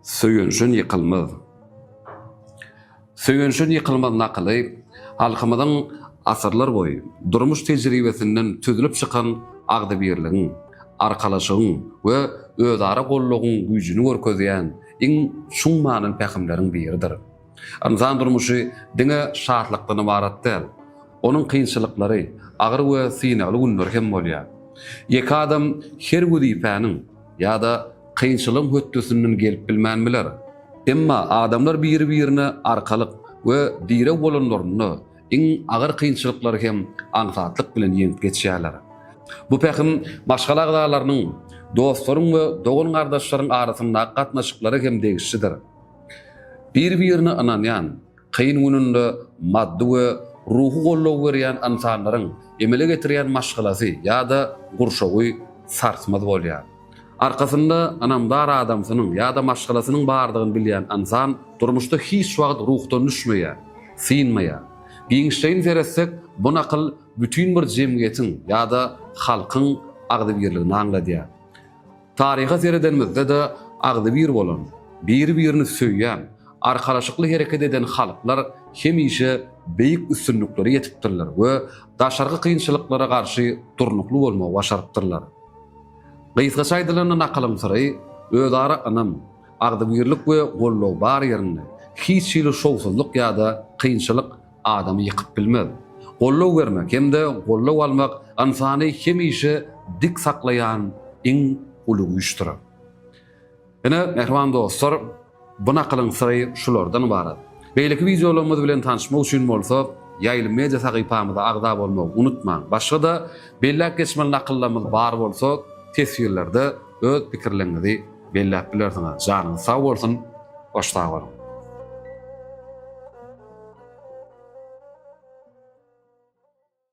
Söýünşin ýykylmaz. Söýünşin ýykylmaz nakyly halkymyzyň asyrlar boýy durmuş tejribesinden süzülip çykan agzybirligiň, arkalaşygyň we özara goldawyň güýjüni görkezýän iň çuň manyly pähimleriň biridir. Ynsan durmuşy diňe şatlykdan ybarat däl. Onuň kynçylyklary, agyr we synagly günleri hem bolýar. Ýeke adam her wezipäniň, Ýa-da kynçylygyň hötdesinden gelip bilmän biler. Emma adamlar biri-birine arkalyk we direg bolanlarynda, iň agyr kynçylyklary hem aňsatlyk bilen ýeňip geçýärler. Bu pähim maşgala agzalarynyň, dostlaryň we dogan-gardaşlaryň arasyndaky gatnaşyklara hem degişlidir. Bir-birine ynanýan, Kyn gününde maddy we ruhy goldaw berýän ynsanlaryň emele getirýän maşgalasy ýa-da gurşawy sarsmaz bolýar. Arkasynda ynamdar adamsynyň ýa-da maşgalasynyň bardygyny bilýän ynsan durmuşda hiç wagt ruhdan düşmeýär, synmaýar. Giňişleýin seretsek, bu nakyl bütin bir jemgyýetiň ýa-da halkyň agzybirligini aňladýar. Taryha seredenimizde-de agzybir bolan, biri-birini söýýän, arkalaşykly hereket eden halklar hemişe beýik üstünliklere ýetipdirler we daşarky kynçylyklara garşy durnukly bolmagy başarypdyrlar. Gysgaça aýdylanda nakylyň syry, özara ynam, agzybirlik we goldaw bar ýerinde, hiç hili şowsuzlyk ýa-da kynçylyk adamy ýykyp bilmez. Goldaw bermek hem-de goldaw almak ynsany hemişe dik saklaýan iň uly güýçdür. Ine, mähriban dostlar, bu nakylyň syry şulardan ybarat. Beýleki wideolarymyz bilen tanyşmak üçin bolsa, Ýaýly media sahypamyza agza bolmagy unutmaň. Başga-da belläp geçmeli nakyllarymyz bar bolsa, teswirlerde öz pikirleriňizi belläp bilersiňiz janyňyz sag bolsun goş sag boluň.